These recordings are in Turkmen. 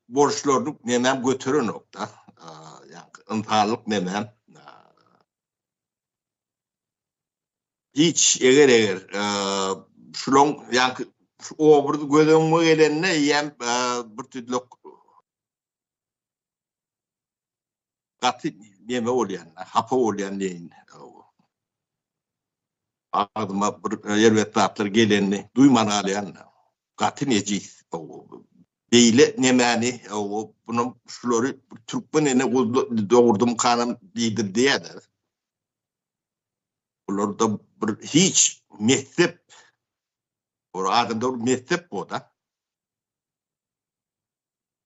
borçlaryny nemäm göterenok-da. Ýagny ynsanlyk nemäm hiç eger-eger şulaň ýagny şu obrazy göz öňüme gelende eýýäm birtüdlek gaty neme bolýan, hapa bolýan diýin. Agzyma bir erbet zatlar gelenini duýman galýan. Gaty nejis. Beýle nemäni, bunu şulary türkmen ene dogurdym kanam diýdir diýýärdi. Bularda bir hiç messep, bu adamda bir messep boda.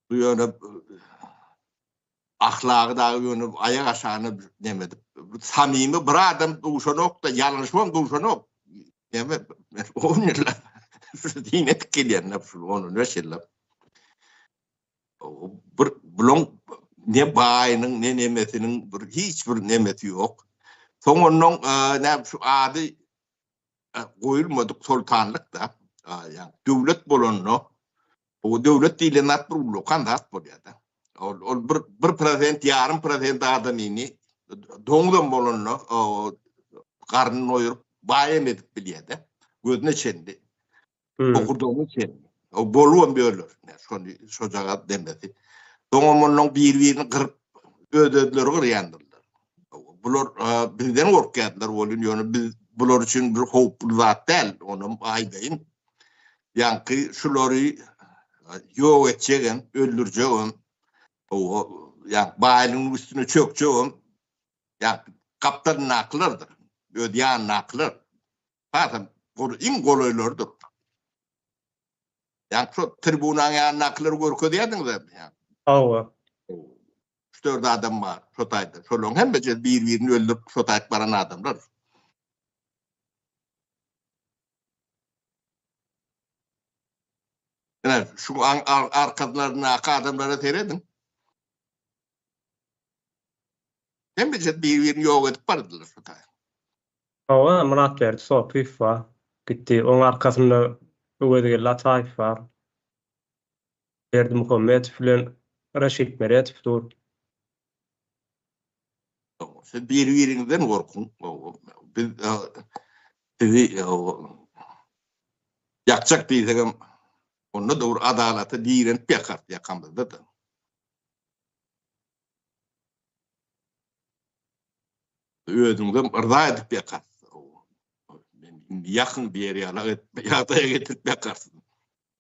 Bu ýöne ahlagy da ýöne aýak aşagyna demedip. Bu samimi bir adam duşanokda, ýalňyşmam duşanok. Deme, men on ýylla dine gelýän şu on beş ýylla. Bir buluň ne baýynyň, ne nemesiniň bir hiç bir nemesi ýok. Soň ondan ne şu ady goýulmadyk soltanlyk da, ýa döwlet bolanda Bu döwlet diýlen zat bir ullakan zat bolýar-da. Ol, ol bir, bir prosent, ýarym prosent adamyny doňuzam bolanda garnyny doýuryp, baýam edip bilýär-de. Gözüne çenli, bokurdagyna çenli. O bolubam ýörler. Şony, şojagaz demesi. Soňam ondan bir-birini gyryp, öz-özleri gyrýandyrlar. Bular bizden gorkýarlar welin, ýöne biz bular üçin bir howply zat däl, onam aýdaýyn. Ýaňky şulary ýok etjegem, öldürjegem, ýa baýlygyň üstüne çökjegem, ýa gapdalyndakylardyr, öz ýanyndakylar. Hasam goly iň golaýlarydyr. Ýa şo tribunaň ýanyndakylary görkezýärdiňiz indi. Hawa. Üç-dört adam bar şo taýda. Şolaryň hemmesi bir-birini öldürip şo taýda baran adamlar. Ine, şu arkalaryndaky adamlara serediň. Hemmeçe bir-birini ýok edip bardylar şu taýy. Hawa, Myratberdi Sopyýew bar. Gitdi. Onuň arkasynda Öwezgeldi Ataýew bar. Berdimuhammedow bilen Reşit Meredow dur. Siz bir-biriňizden gorkuň. Biz sizi ýakjak diýsegem, onda dogry adalata direnip ýakarys ýakamyzda-da. Özüňizem yrza edip ýakarys. Indi ýakyň diýer ýaly ýagdaýa getirip ýakarys.